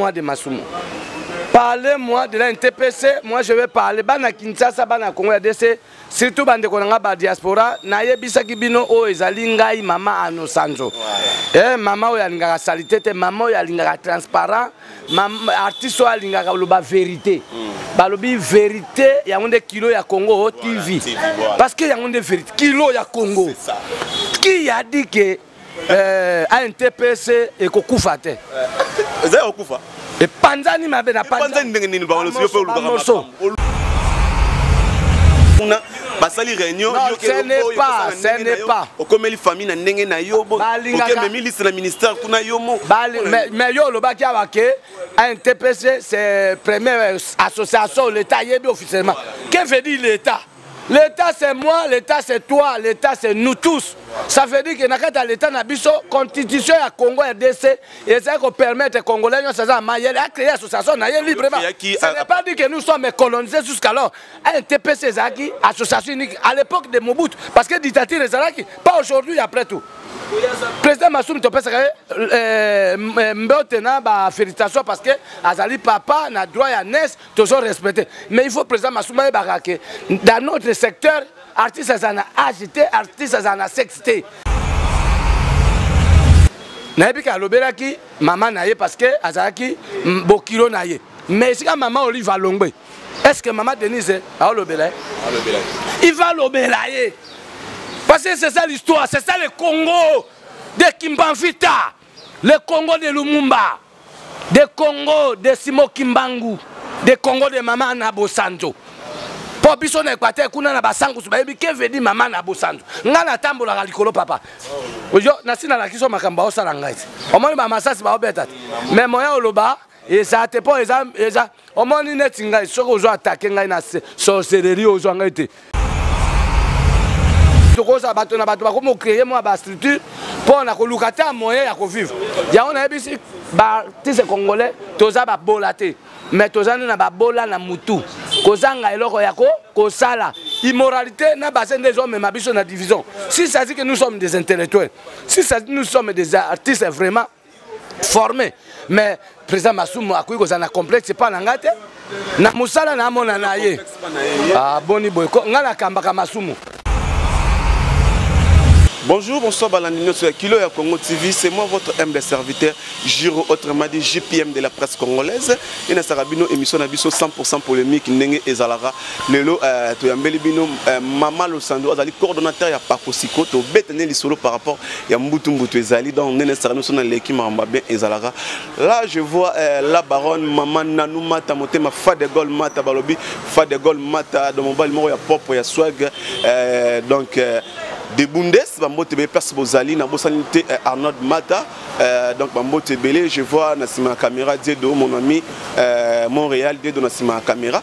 moi de Masumu. Parlez-moi de la NTPC, moi je vais parler. Bana Kinshasa, Bana Congo, RDC, surtout bandeko na ngai ba diaspora nayebisaki bino oyo ezali ngai mama anosanzo e mama oyo alingaka salite te mama oyo alingaka transparent artiste oyo alingaka oloba verité hmm. balobi verité yango nde kilo ya congo o oh, tv parce que yango nde verité kilo ya congo qui a dit que eh, antps ekokufa te eh, eza kokufa epanzani mabe na panzani ndenge nini baolosi yo mpe olukaka kuna basali réunion okomeli famille na ndenge na yo okememi liste na ministère kuna yo mo mais yo olobaki awa ke ntpc c'est première association l'état ayebi officiellement que veut dire l'état L'État c'est moi, l'État c'est toi, l'État c'est nous tous. Ça veut dire que na kati ya l'État na biso, constitution ya Congo RDC ezali ko permettre Congolais nyonso aza mayele a créer association na ye librement. Ce n'est pas dit que nous sommes colonisés jusqu'alors. Un TPC ezalaki association unique à l'époque de Mobutu parce que dictature ezalaki pas aujourd'hui après tout. Président Massoum topesaka ye euh, euh, mbote na ba félicitations parce que azali papa na droit ya nes tozo respecte mais il faut président masumba ayebaka ke dans notre secteur artiste aza na age te artiste aza na sexe te nayebi ke alobelaki mama na ye parce que azalaki bokilo na ye mais esika mama olive alongwe est ce que mama denise aolobela ye il va alobela ye parce que c'est ça l'histoire c'est ça le congo de kimbanvita Le Congo de Lumumba, de Congo de Simo Kimbangu, de Congo de Mama na Bosanzo. Po biso na Equateur kuna na basangusu bayebi ke vedi mama na Bosanzo. Nga na tambolaka likolo papa. Ojo na sina la kiso makambo osala ngai. Omoni ba masasi ba obeta. Mais moya oloba eza te mpo eza eza omoni neti ngai soki ozo atake ngai na sorcellerie ozwa ngai te tokozala bato na bato bakomi ocreye mwa bastructure mpo na koluka te moyen ya kovivre yango nayebisi baartiste congolais toza babola te mais toza nde na babola na mutu kozanga eloko ya kosala immoralité na base nde ezomema biso na division si sadi que nous sommes des intellectuels si sadi nous sommes des artistes vraiment forme mais président masumu akoki kozala na complexe epai na ngai te na mosala namona na ye aboni ah, boye ngai nakambaka masumu Bonjour, bonsoir Balandino sur Kilo ya Congo TV. C'est moi votre humble serviteur, Giro autrement dit JPM de la presse congolaise. Et na sarabino émission na biso 100% polémique, nenge ezalara lelo euh, toyambeli bino euh, mama losando azali coordonnateur ya pakosiko tobeta nde lisolo par rapport ya mbutu mbutu ezali donc nene esaka biso na leki makambo bien ezalaka là je vois euh, la baronne mama nanu mata motema fa de gol mata balobi fa de gol mata do mobali moko ya propre ya swag euh, donc euh, de bundes bambote ebele place bozali nabosani te euh, arnold mata euh, donc bambote ebele je vois na nsima ya caméra diedo mon ami euh, montréal diedo na nsima ya caméra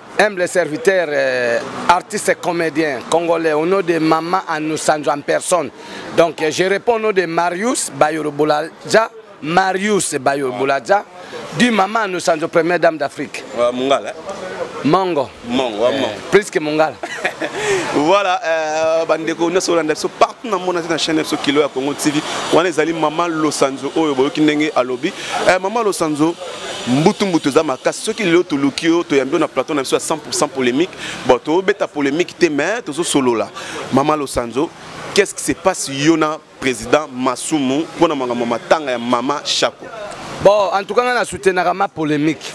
Humble serviteur, euh, artiste comédien congolais au nom de Mama Anousanjo en personne. Donc euh, je réponds au nom de Marius Bayoro Bouladja, Marius Bayoro Bouladja, du Mama Anousanjo, première dame d'Afrique. Ouais, Mungala. Mongo. Mongo, ouais, Mongo. Euh, plus que Mungala. voilà euh, bandeko nyonso olanda biso partout na mona te na chaîne biso kilo ya congo tv wana ezali mama losanzo oyo boyoki ndenge alobi euh, mama losanzo mbutu mbutu eza makasi soki lelo toluki yo toyambi yo na plateau na biso ya 100 polémique bon tobeta polémique te mais tozosolola mama losanzo qu'est ce qui se passe yo na président masumu mpo na makambo matanga ya mama shako bon en tout cas ngai nasoutenaka ma polémique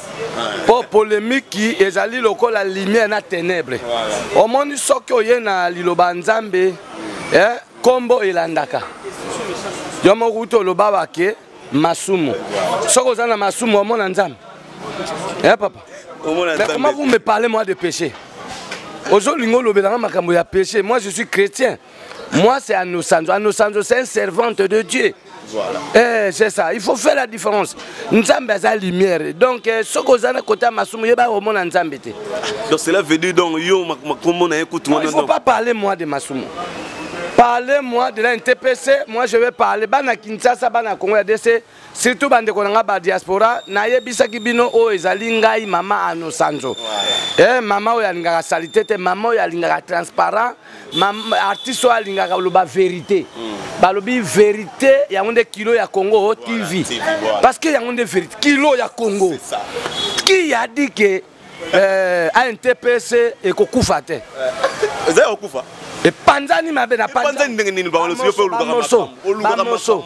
mpo polémiki ezali lokola lumière na ténèbre omoni soki oye na liloba ya nzambe nkombo eh, elandaka yo moko uti oloba bake masumu soki oza na masumu omona nzambe ya eh, papa mais comment vous me parlez moi de péché ozolinga olobelanga makambo ya péché moi je suis chrétien moi c'est anosanzo anosanzo c'est un servante de dieu Voilà. Eh, c'est ça. Il faut faire la différence. Nzambe a la lumière. Donc, euh, ce que vous avez côté Masumu, il va au monde Nzambe. Donc, cela veut dire, donc, yo, ma, ma, comment on a écouté. Il ne faut pas parler, moi, de Masumu. parler moi de la ntpc moi je vais parler bana kinshasa bana congo ya dc surtout bandeko na ngai ba diaspora nayebisaki bino oyo oh, ezali ngai mama ano sanzo eh, mama oyo alingaka salite te mama oyo alingaka transparent artiste oyo alingaka oloba verité hmm. balobi verité yango nde kilo ya congo oh, tv parce que yango nde verité kilo ya congo qui a dit que eh, antps ekokufa te eh, eza ya kokufa epanzani mabe na panzani ndenge nini bango nyonso yo mpe olukaka makambo olukaka makambo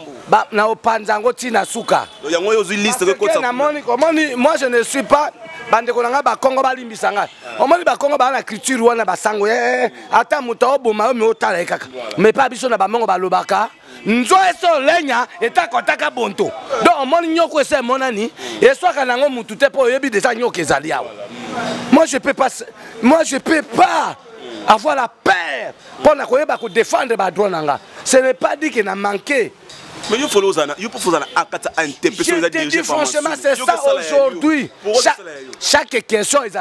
na opanza yango ti na suka yango oyo ozwi liste kokotisa namoni omoni moi je ne suis pas bandeko na ngai bakongo balimbisa ngai ah. omoni bakongo baa na culture wana basango eh, eh, eh. ata moto aoboma yo me otala ye kaka me mpa biso na bamongo balobaka nzo eso lenya etakotaka bonto donc omoni nyoko ese emonani eswaka nango mutu te mpo oyebi deja nyoko ezali awa moi je peux pas moi je peux pas avoir la peur mpo na koyeba kodefendre badroit na nga ce n'est pas dit que na manque Mais il faut l'ozana, il faut l'ozana à kata à interpréter les dirigés. Franchement, c'est ça aujourd'hui. Chaque, chaque question, ils ont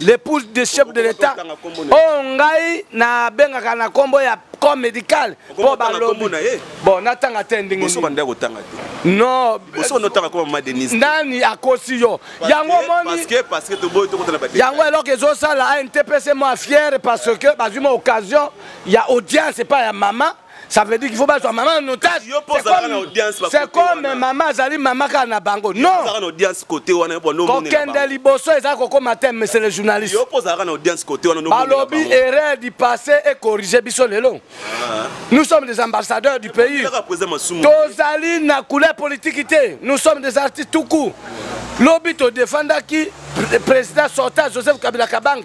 l'épouse de chef de l'état oyo oh, ngai nabengaka na nkombo ya corps médical mpo balobi bon natanga te ndenge non nani akosi yo yango omoni yango eloko ezosala antpc mwa fiere parce que bazwi mwa occasion ya audience epai ya mama Ça veut dire qu'il faut battre maman en otage. C'est comme maman azali maman kaka na bango. Non. Ozalaka na audience côté wana po no mona. Kokende liboso eza kokoma thème monsieur le journaliste. Yo pozalaka na audience côté wana no mona. Balobi erreur du passé et corriger biso lelo. Ah. Nous sommes des ambassadeurs du pays. Tozali na couleur politique te. Nous sommes des artistes tout court. Lobi to défendaki président sortant Joseph Kabila Kabange.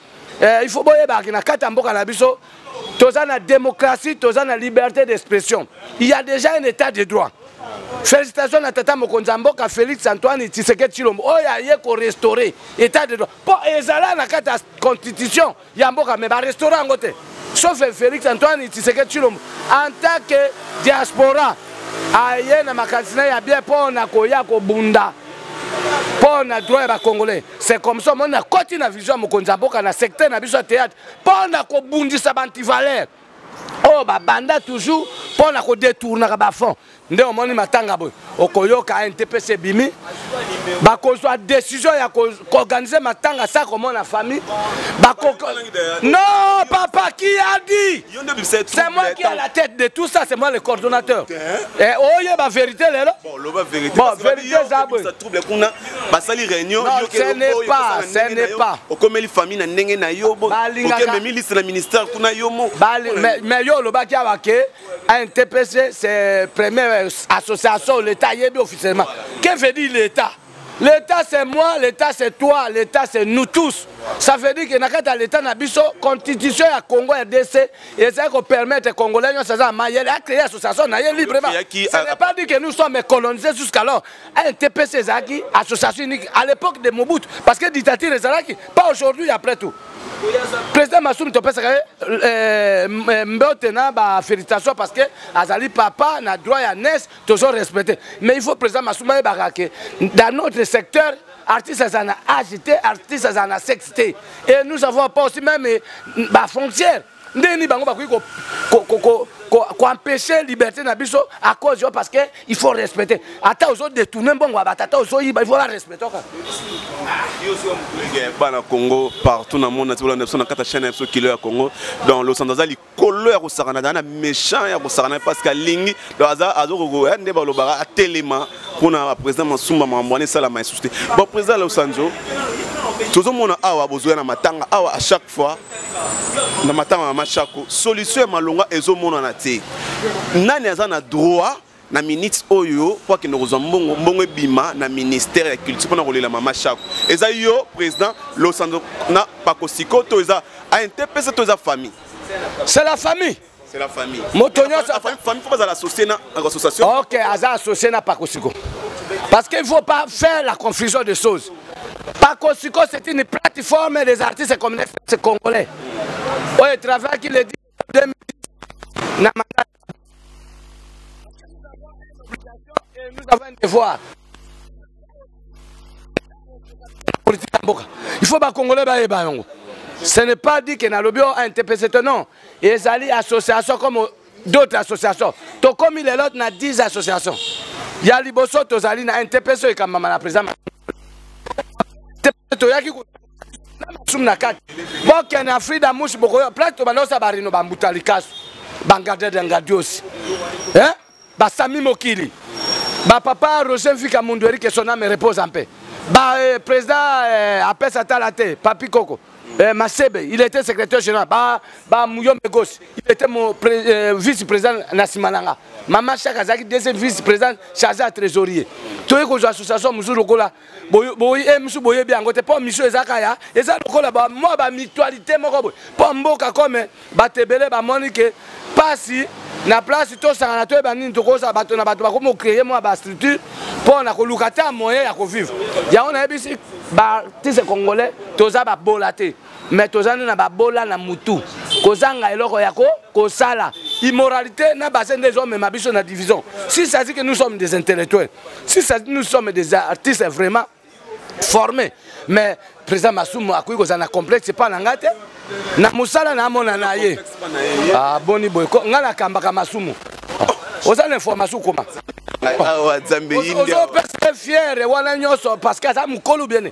eh, il faut boyebaka ke na kati ya mboka na biso toza na démocratie toza na liberté d'expression il y a déjà un état de droit félicitation na tata mokonzi ya mboka félix antoine tshisekedi tshilombo oyo aye korestaure état de droit mpo ezala na kati ya constitution ya mboka me barestaure yango te sauf félix antoine tshisekedi tshilombo en tant que diaspora aye na makanisi na ye ya bien mpo na koya kobunda mpo na droit ya bacongolais c'est comme ça omoni nakoti na vision ya mokonzi ya mboka na secteur na biso ya théâtre mpo na kobundisa baantivaleur oyo oh, babanda toujours mpo na kodetournaka bafond nde omoni matanga boye okoyoka ntps ebimi bakozwa décision ya koorganize matanga sa komona famille non papa qui a dit c'est moi qui a la tête de tout ça c'est moi le coordonnateur eh, oyeba vérité lelo bon vérité eza boye basali réunion okomeli famille na ndenge na yo okememi liste na ministère kuna yo mo mais yo olobaki awa ke ntpc c'est première euh, association l'état ayebi officiellement que veut dire l'état L'État c'est moi, l'État c'est toi, l'État c'est nous tous. Ça veut dire que na kati ya l'État na biso constitution ya Congo ya DC ezali ko permettre congolais nyonso aza mayele a créer association na ye librement. Ce n'est pas dit que nous sommes colonisés jusqu'alors. LTPC ezalaki association unique à l'époque de Mobutu parce que dictature ezalaki pas aujourd'hui après tout président Massoum topesaka ye euh, euh, euh, mbote na ba félicitation parce que azali papa na droit ya nes tozo respecte mais il faut président Massoum ayebaka ke dans notre secteur artiste aza na age te artiste aza na sexe te et nous avons pas aussi même bafrontière ndenge nini bango bakoki koempeshe liberté na biso à cause yo parce que il faut respecter ata ozo détourne mbongo ya batata ozoyiba il faut barespecte oka bana congo partout na monde natibola na biso na kati ya chaine ya biso kilo ya congo donc losanto aza likolo ya kosakana aza na méchant ya kosakana parce que alingi donc aza azokoko ya nde balobaka atelema mpona baprésident masumba makambo wana esalama esusu te bon président losanzo tozomona awa bozoya na matanga awa à chaque fois na matanga mama chako solution ya malonga ezomonana te nani aza na droit na minute oyo mpo akende kozwa mbongo mbongo ebima na ministère ya culture mpona kolela mama chako eza yo président losando na pakosiko to eza intpc to eza famille c'est la famille C'est la famille. Moto nyonso famille faut bazala associé na association. OK, aza associé na Pakosiko. Parce qu'il ne faut pas faire la confusion des choses. Pakosiko c'est une plateforme des artistes communistes congolais. Oye travail qui le dit 2010 na mandat. Et nous avons un devoir. Il faut ba congolais ba yeba yongo. Ce n'est pas dit que na lobio a un TPC non. ezali association comme d'autres associations tokomi lelo na 10 associations ya liboso tozali na ntps oyo ekambama na président toyaki na masumu na kati bokende na frida mushi bokoyo place tobanda osala barino bambuta likasu bangadede ngadiosi eh? basami mokili ba papa roger mvika mundu erike son ame repose en paix ba eh, président eh, apesa tala te papi koko eh, masebe il était secrétaire général ba, ba muyombe gosi il était mon pré, eh, vice président na nsima na nga mama shaka azalaki deuxième vice président chargé ya trésorier toyei kozwa association mosusu lokola misu boyebi yango te mpo misu eza kaya eza lokola mwa bamitualité moko boye mpo mboka kome bato ebele bamoni ke mpasi na place tosangana toyeba nini tokozala bato na bato bakomi kocreye mwa bastructure mpo na koluka ata moyen ya kovivre yango nayebisi baartiste congolais toza babola te mais toza nde na babola na mutu kozanga eloko ya kosala immoralité na base nde ezomema biso na division si ça dit que nous sommes des intellectuels si ça dit nous sommes des artistes vraiment formés mais président masumu akoki kozala na complexe epai na ngai te na mosala namona na ye aboni ah, boye ngai nakambaka masumu oza na information koma ozopesa fiere wana nyonso parce que aza mokolo biene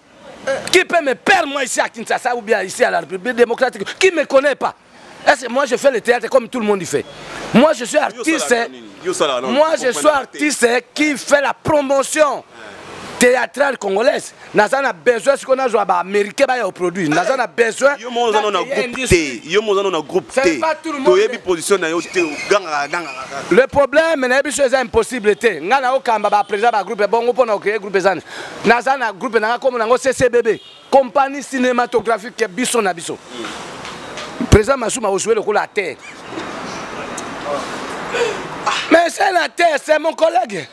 Qui peut me perdre moi ici à Kinshasa ou bien ici à la République démocratique Qui me connaît pas Est-ce que moi je fais le théâtre comme tout le monde y fait Moi je suis artiste. Moi je suis artiste qui fait la promotion théâtrale congolaise naza na besoin sikoyo nazwa baaméricain baya oproduit naza na besoin yo moko oza no na groupe te yo moko oza no na groupe te toyebi position na yo te ogangaka gangaka le problème nayebi so eza impossible te ngai naokamba baprésident bagroupe bongo mpo na okeye groupe ezani naza na groupe na nga kombo nango ccbb compagnie cinématographique biso na biso président masuma ozwi lokola atere mais c'est na terre c'est mon collègue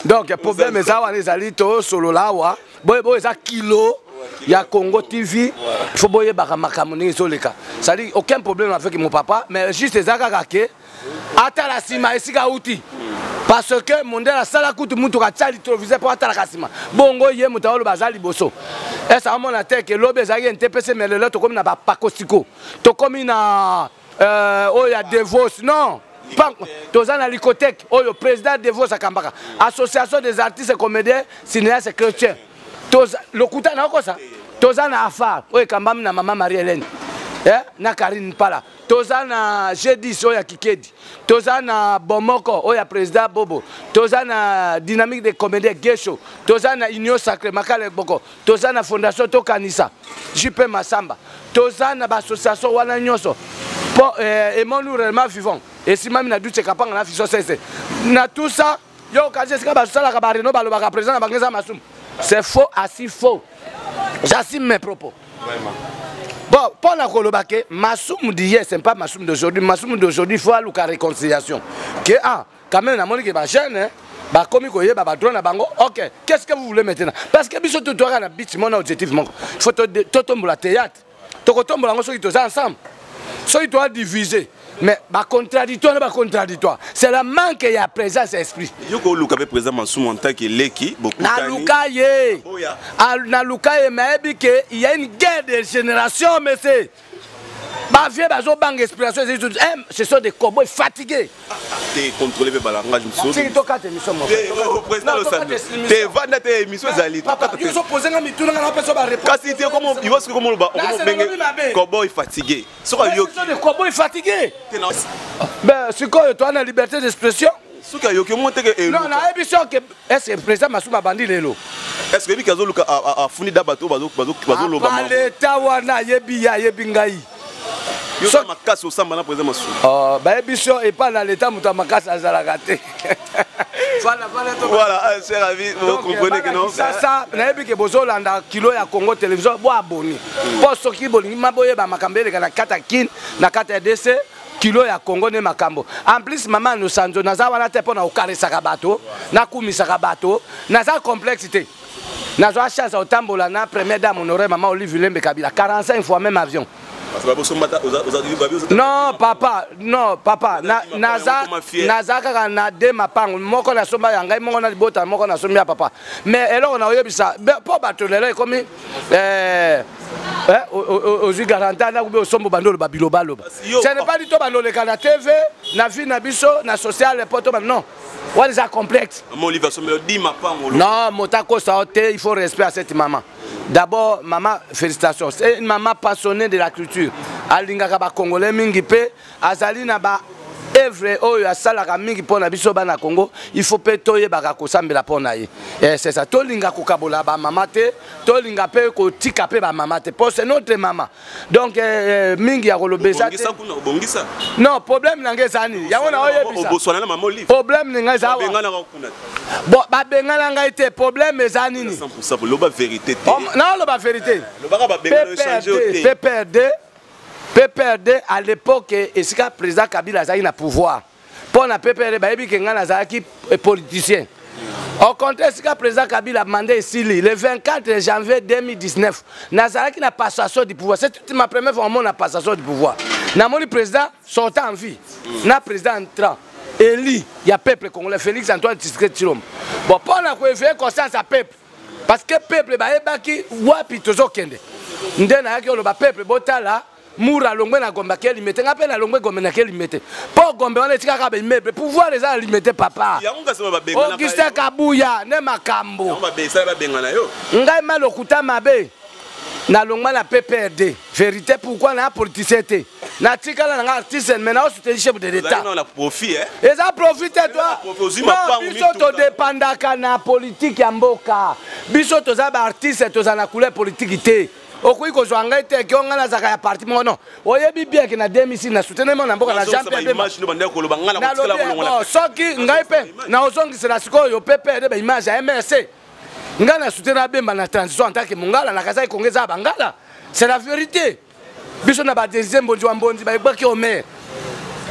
donc problème eza wana ezali tosolola awa boye boye eza kilo ya congo tv fo boyebaka makambo ndenge ezoleka cestadire aucun problème avec mon papa mais juste eza kaka ke atala nsima esika auti parce que mondele asala kutu motuka atya litroviseur mpo atalaka nsima bongo ye moto aoloba aza liboso esa amona te ke lobi ezalaki entepese me lelo tokómi na bapakosiko tokómi na euh, oyo ya devos non toza na licoteke oyo président devos akambaka association des artistes comédien cinéaste chrétien lokuta naokosa toza na afar oyo ekambami na mama marie hélène eh, na karine mpala toza na g10 oyo ya kikedi toza na bomoko oyo ya président bobo toza na dynamique de comédien gesho toza na union sacré makala boko toza na fondation tokanisa jp masamba toza na baassociation wana nyonso mpo eh, emoni réellement vivant esimami na duce kapanga na fiso sese na tout ça yo okanisi esika basalaka bareno balobaka président na bango eza masumu c'est faux asi faux j'assume mes propos bon mpo na koloba ke masumu diye c'est pas masumu d'aujourd'hui masumu d'aujourd'hui faut aluka réconciliation ke ah quand même namoni ke bajeune bakomi koyeba badroit na bango ok qu'est ce que vous voulez maintenant parce que biso totoaka na bit mona objectif moko faut totombola théâtre tokotombola yango soki toza ensemble soki toa divise mais bacontraditoire na bacontraditoire c'est la manque ya présence ya esprit yo koluka mpe président masumu antake eleki naluka ye naluka ye mayebi ke il y a une guerre de génération monsieur bavieux bazobanga inspiration ezali eh, ce sont des cowboy fatigués te contrôler mpe balangage mosusu tokata émission mokopresident losambi te vanda te émission ezali kasi te ivoski komoloba okomobenge koboy fatigue soki ayokicoboy fatigue sikoyo toa na liberté d'expression soki ayoki omo teke non nayebi soki ese président masumu abandi lelo est ce que yebi ke azoluka afuni da bato bazoloba leta wana ayebi ye ayebi ngai yoza makasi osamba na président masumu oh, bayebi so epai na leta moto ya makasi azalaka te voilà ah, cher avis vous comprenez que non sasa nayebi ke bozolanda kilo ya congo télévision bo aboni mpo hmm. soki bolingi ma boyeba makambo eleka na kati ya kin na kati ya dc kilo ya congo nde makambo en plus mama nosanzo naza wana te mpo na kokaresaka bato nakumisaka bato naza complexe te nazwa chance ya kotambola na première dame honore mama olive lembe kabila 45 fois même avion non papa non papa naza kaka na de mapango moko nasomba ya ngai moko na libota moko nasombi ya papa mais eloko nakoyebisa mpo bato lelo ekomi eh, eh, ozwi garanta nakubi osombo bando oloba bilobaloba ce n'est pas dit to bandoleka na tv na vie na biso na sociale mpo to non wana eza complexe non moto akosa yo te il faut respect à cette maman d'abord mama félicitation c'est une maman passionnée de la culture alingaka bacongolais mingi mpe azali na ba evre oyo asalaka mingi mpo na biso bana congo il faut mpe toyebaka kosambela mpo na ye eh, sesa tolinga kokabola bamama te tolinga mpe kotika mpe bamama te mpo se notre mama donc eh, eh, mingi ya koloba eza te non problème na ngai eza nini yango na oyebisaproblème na ngai eza bon babengana ngai te problème eza nini naoloba vérité pprd pprd à l'époque esika président kabila azalaki na pouvoir mpo na ppr bayebi ke ngai nazalaki politicien au contraire esika président kabila manda esili le 24 janvier 2019 nazalaki na passation du pouvoir c'est ma première fois omona passation du pouvoir namoni président sortant en vie na président entrant eli ya peuple congolais félix antoine tiske tshilombo bon mpo na koeveye conscience ya peuple parce que peuple bayebaki wapi tozokende nde nayaki oloba peuple botala mura alongwe na gombe ake limete nga mpe nalongwe gombe nake limete mpo gombe wana etikaka baimeble pouvoir eza na limete papa augustin kabuya nde makambo ngai ma lokuta mabe nalongwa na pprd vérité pourquoi na politicien te natikala nanga artiste mais nao souteni chef de l'état eza profit te tobiso todepandaka na politike ya mboka biso toza baartiste toza na couleur politike te okoki kozwa ngai te kio ngai nazalaka ya parti moko non oyebi bien ke na demisi na soutenema na mboka na jean oh, soki ngai mpe na ozongisela sikoyo pepe nde baimage ya mrc ngai na soutena bemba na transition en tant que mongala nakazaki konga eza ya bangala c'est la vérité biso na badesize mbonzi wa mbonzi bayebaki omer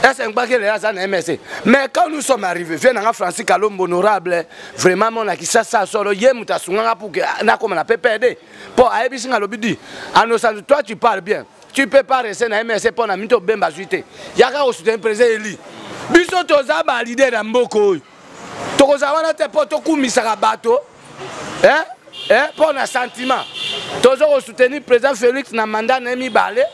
ese ngbaki lela aza na mrc mais quand nous sommes arrivé vie nanga francis kalombo honorable vraiment mona kisasa solo ye moto asunganga puke nakoma na ppd po ayebisi nga lobi di anosantu toi tu parle bien tu peux pas rester na msc mpo na mito bemba azwi te yaka kosuteni président eli biso toza balide na mboka oyo tokozala wana te mpo tokumisaka bato eh? eh? mpo na sentiment toza kosoutenir président félix na mandat na ye mibale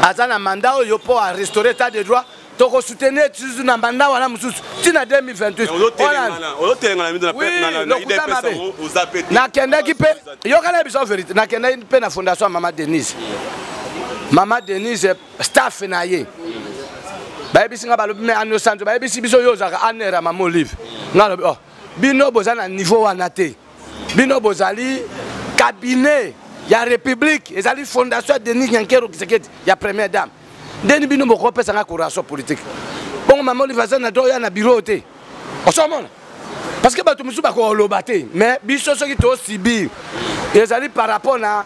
aza na mandat oyo mpo arestaurer etat de droit toko soutenir tisu na mandat wana mosusu ti na 2028 nakendaki mpe yokana biso verité nakendaki mpe na fondation ya mama denise mama denise staff na ye bayebisi nga balobi me ano santo bayebisi biso yo ozalaka anera mama olive nga alobi oh bino boza na niveau wana te bino bozali cabinet ya république ezali fondation ya denis nyankero kisekedi ya première dame ndeni bino bokopesa ngai coration politique bongo mama olive aza na do ya na biro te osomona parce que bato mosusu bakoloba te mais biso soki tosibir ezali par rapport na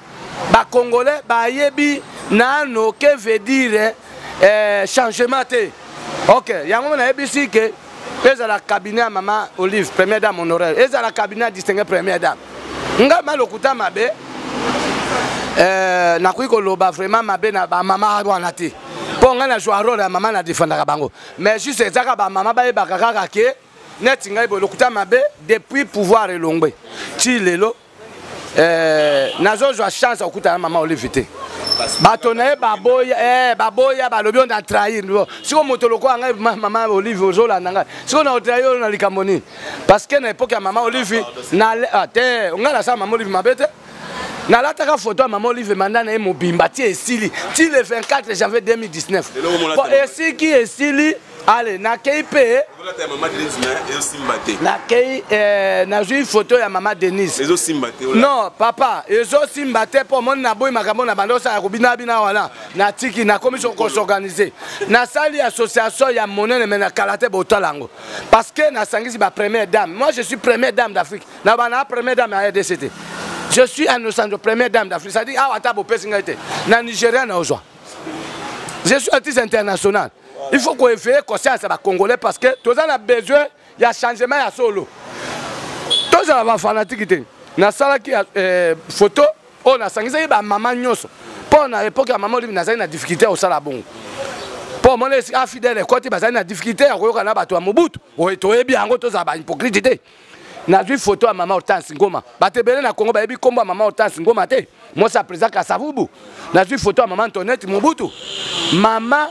bacongolais bayebi nano que veut dire eh, changement te ok yango nayebisi ke ezala cabinet ya mama olive première dame honoraire ezala cabinet ya distingue première dame nga ma lokuta mabe euh, nakoki koloba vraiment mabe na bamama wana te mpo ngai na joa role ya mama nadefandaka bango mais juste ezaka bamama bayebaka kaka ke neti ngai boye lokuta mabe depuis pouvoir elongwe ti lelo eh, nazozwa chance ya kokutana mama olive te bato na ye baboya eh, baboya balobi oyo na trahir sikoyo moto lokola ngai mama olive ozolanda ngai sikoyo na otrahir oyo na likambo nini parce que na epoke ya mama olive ah, te ngai nasala mama olive mabe te nalataka foto ya mama olive manda na ye mobimba ti esili ti le 24 janvier 2019 esiki esili ale nakei mpe nakei eh, nazwi foto ya mama denise non papa ezosimba te mpo omoni naboyi makambo na banda osala kobina bina wana natiki nakomi so kosorganize nasali association ya monene me na kala te botala yango parce que nasangisi ba première dame moi je suis première dame d'afrique na bana première dame ya rdc te je suis en osanjo première dame d'afrique c'est-à-dire awa ata bopesi ngai te na nigeria na ozwa je suis artiste international il faut koeveille conscience ya bacongolais parce que toza na besoin ya changement ya solo tozala bafanatiki te nasalaki eh, photo oyo nasangisaki bamama nyonso mpo na epoke ya mama olivi nazali na difficulté ya kosala bongo mpo omona afidele ekoti bazali na difficulté ya koyokana na bato ya mobutu toyebi yango tozala bahypocrite te nazwi foto ya mama hortense ngoma bato ebele na kongo bayebi nkombo ya mama hortense ngoma te mwasi ya président kasavubu nazwi foto ya mama antonete mobutu mama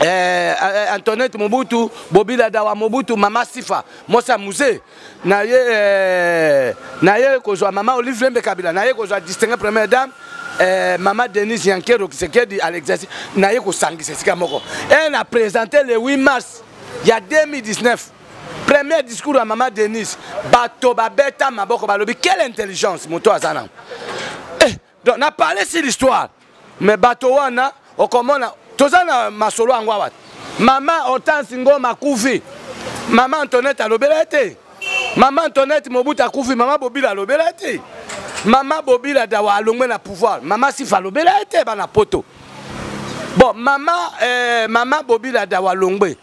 eh, eh, eh antonete mobutu bobila dawa mobutu mama sifa mwasi ya musee na ye eh, na ye kozwa mama olive lembe kabila na ye kozwa distingue première dame eh, mama denise yankero kisekedi à l'exercice na ye kosangisa esika moko e na présente le 8 mars ya 2019 premier discours ya mama denise bato babeta maboko balobi quelle intelligence moto aza nango eh, donc na parle sur l'histoire mais bato wana okomona toza na masolo yango awa mama hortense ngoma akufi mama antonete alobela ye te mama antonete mobutu akufi mama bobila alobela ye te mama bobila dawa alongwe na pouvoir mama sifa alobela ye te bana poto bon mama eh, mama bobila dawa alongwe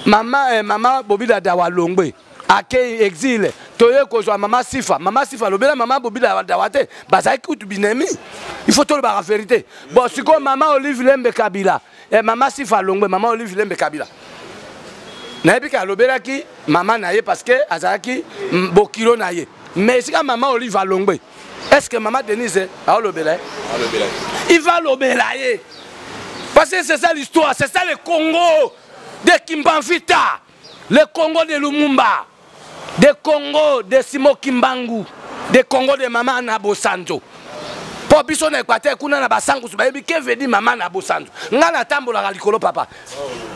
mama eh, mama bobida dawa longwe akei exile toye kozwa mama sifa mama sifa alobela mama bobila dawa te bazalaki kutu binemi il faut tolobaka verité bon sikoyo mama olive lembe kabila eh, mama sifa alongwe mama olive lembe kabila nayebi ke alobelaki mama na ye parce que azalaki bokilo na ye mais esika mama olive alongwe est ce que mama denise aolobela ye il va lobela ye parce que c'est ça l'histoire c'est ça le congo de kimbanvita le congo de lumumba de congo de simo kimbangu de congo de mama na bosanzo mpo biso na equateur kuna na basangusu bayebi kevedi mama na bosanzo ngai natambolaka likolo papa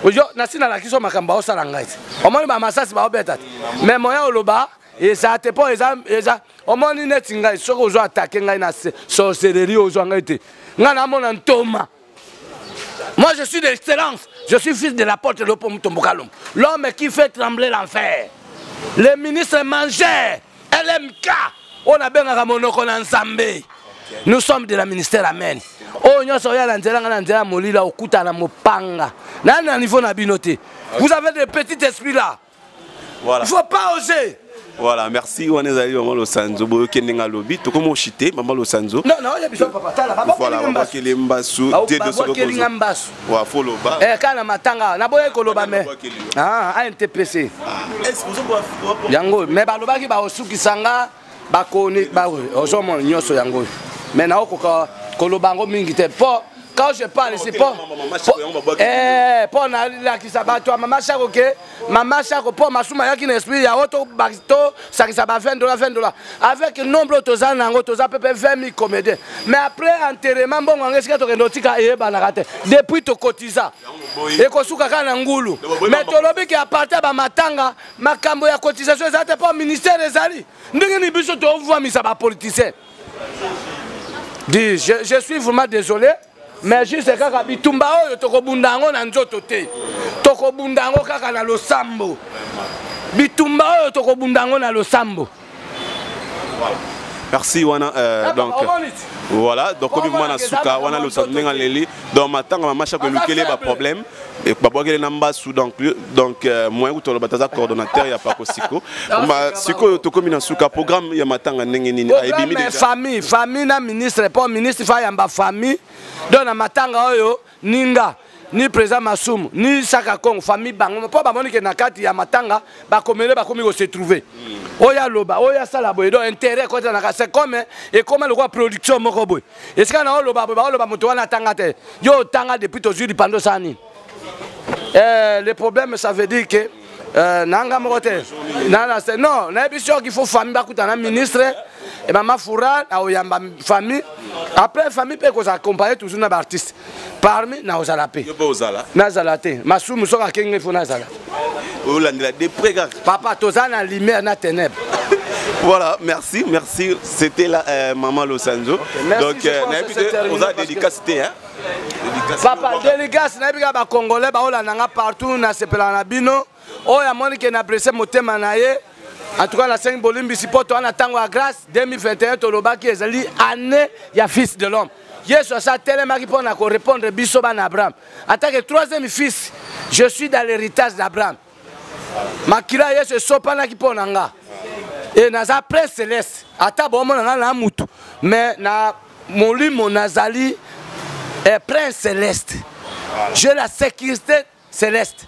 oyo nasi nalakisi yo makambo baosala ngai te omoni bamasasi baobeta te me moya oloba eza te mpo eza eza omoni neti ngai soki ozo atake ngai na sorcellerie ozwa ngai te ngai namona ntoma Moi, je suis de l'excellence. Je suis fils de la porte de l'Opom Tombokalom. L'homme qui fait trembler l'enfer. Le ministre mangeur, LMK, on a bien à Monoko Nzambé. Nous sommes de la ministère Amen. oyo nyonso oya na nzela ngai na nzela molila okuta na mopanga nani na niveau na bino te vous avez de petit esprit là voilà. faut pas oser voilà merci wana ezali mama losanzo boyoki ndenge alobi tokomi oshite mama losanzo babwakeli mbasu tedosolinga mbasu wa fo loba eh, kaka na matanga naboyaki koloba me antpc ah, ah, yango me balobaki baosukisa nga bakoni bawe ozomona nyonso yango oyo me naokoka koloba yango mingi te mpo quand je parle ici mpo eh, nalakisa bato ya mama shako ke mama shako mpo masuma ayaki na esprit yango tosakisa ba 20 dola 20 dola avec nombre oyo toza na yango toza pepe 20 000 comédien mais après enterrement mbongo yango esika tokende otika eyebanaka te depuis tokotiza ekosuka kaka na ngulu mais tolobi ke apartir bamatanga makambo ya cotisation eza te mpo ministère ezali ndenge nini biso tovuamisa bapoliticien di je, je suis vraiment désolé mais juste kaka bitumba oyo tokobunda yango na nzoto te tokobunda yango kaka na losambo bitumba oyo tokobunda yango na losambo merci wana euh, ah, donc voilà donc komi vraiment na suka wana losantu ndenge aleli donc matanga mamasha kolukeli ye baproblème babwakeli na mbasu donc donc euh, moyen kutu aloba taza coordonnateur ya pako siko sikoyo tokomi na suka programme ya matanga ndenge nini ayebimi famille famille na ministre mpo ministre fayamba famille donc na matanga oyo ni nga ni président masumu ni saka congo famille bango mpo bamoni ke na kati ya matanga bakomele bakomi kose trouve hmm. oyo aloba oyo asala boye donc intérêt ekotanaka c'est comme ekoma lokola production moko boye esika na oloba boye baoloba moto wana atanga te yo otanga depuis tozwi lipando osala nini eh, le problème ça veut dire que Euh, nanga moko te nanase non nayebi soki il faut famille bakutana ministre e mama fura aoyamba famille après famille mpe ekozala accompagne toujours na baartiste parmi naozala mpe nazala te masumu soki akenge fo nazala olandela de près kaka papa toza na lumière na ténèbre voilà merci merci c'était la euh, maman losanzo okay, donc euh, nayebi te oza dédicace te hein papa délicace nayebi kaka bacongolais baolanda nga partout nasepelaka na bino oyo amoni ke na presse motema na ye en tout cas nasengi bolimbisi mpo toa na ntango ya grâce 2021 tolobaki ezali année ya fils de l'homme yesu asi atelemaki mpo na korépondre biso bana abraham atake troisième fils je suis dans l'héritage d'abraham makila ya yesu esopanaki mpo na nga e naza prince celeste ata bomona nga na mutu me na molimo nazali e prince celeste je la sécurité celeste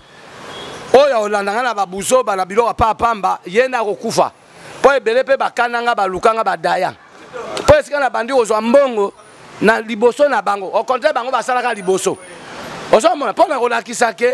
oyo akolanda nga na babuzoba na biloko apa pamba ye nde akokufa mpo ebele mpe bakana nga baluka nga badaya mpo esika na bandi kozwa mbongo na liboso na bango au contraire bango basalaka liboso ozomona mpo na kolakisa ke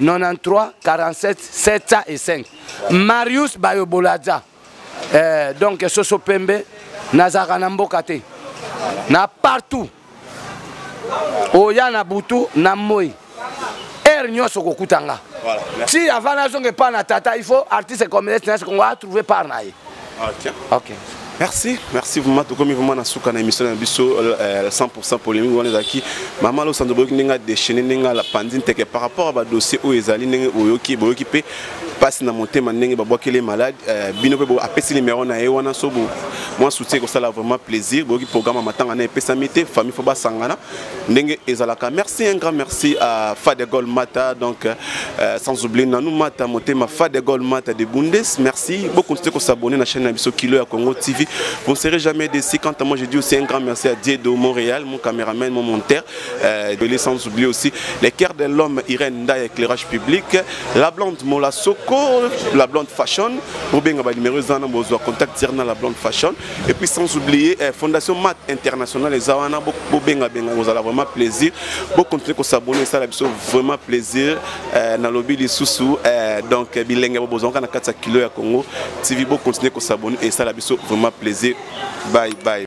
93 47 705 marius bayoboladza eh, donc soso pembe nazalaka na mboka te na partout oya na butu na moi heure nyonso kokuta nga ti avant nazonga epai na tata il faut artiste communiste nasi kongo atrouve part na ye Ah, tiens. Ok. Merci, merci vraiment. Tout comme vraiment, nous avons émission de 100% polémique. Nous avons dit, maman, nous avons dit, nous avons déchaîné, nous avons pandine, par rapport à dossier où ils allaient, nous avons dit, nous avons dit, passe na motema ndenge babwakeli malade euh, bino mpe apesi nimero na ye wana so mwa soutien ekosala vraiment plaisir boyoki programme ya matanga na epesami te famille fo basangana ndenge ezalaka merci un grand merci à Fadegol Mata donc euh, sans oublier Nanou Mata motema Fadegol Mata de Bundes merci beaucoup continuez à s'abonner à la chaîne na biso Kilo ya Congo TV vous ne serez jamais déçu quant à moi je dis aussi un grand merci à Diedo Montréal mon caméraman mon monteur euh, de sans oublier aussi les cœurs de l'homme Irène Nda éclairage public la blonde Mola Soko la blonde fashion Robin ba numéro zana bozwa contact tirna la blonde fashion et puis sans oublier eh, fondation mat international eza wana bobengabenga kozala vraiment plaisir bocontinue kosabone esala biso vraiment plaisir eh, nalobi lisusu eh, donc eh, bilenge bobozwaka na kati ya kilo ya congo tv bocontinue kosabone esala biso vraiment plaisir bye bye